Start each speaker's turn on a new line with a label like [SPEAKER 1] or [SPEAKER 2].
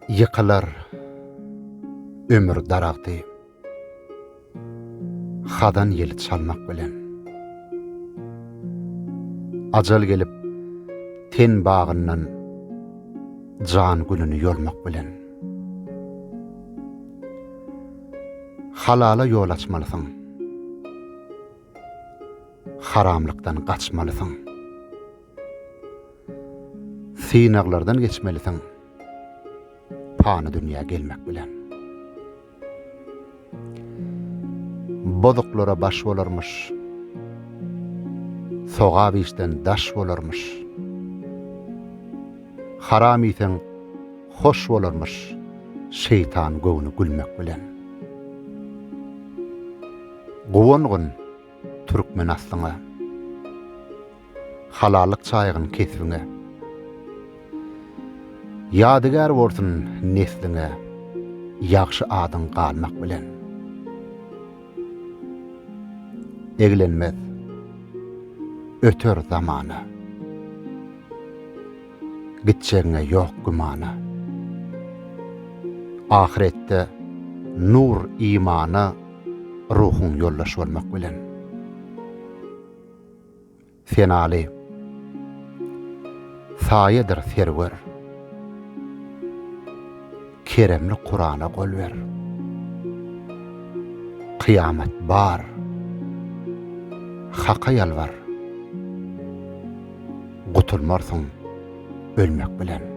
[SPEAKER 1] Ýykylar ömür daragty Hazan ýeli çalmak bilen. Ajal gelip ten bagyndan Jan gülüni ýolmak bilen. Halala ýol açmalysyň. Haramlykdan gaçmalysyň. Synaglardan geçmelisiň pany dünýä gelmek bilen. Bozuklara baş bolarmyş, sogap işden daş bolarmyş. Haram iýseň hoş bolarmyş, şeýtan göwni gülmek bilen. Guwangyn türkmen aslyňa. Halallyk çaýgyn kesbiňe. Ýadygär bolsun nesliňe. Ýagşy adyň galmak bilen. Eglenmez. Öter zamana. Gitjegiňe ýok gümana. Ahyretde nur imana ruhuň ýoldaş bolmak bilen. Senaly. Saýadyr serwer. Keremli Kurana gol ber. Kyýamat bar. Haka ýalbar. Gutulmarsyň ölmek bilen.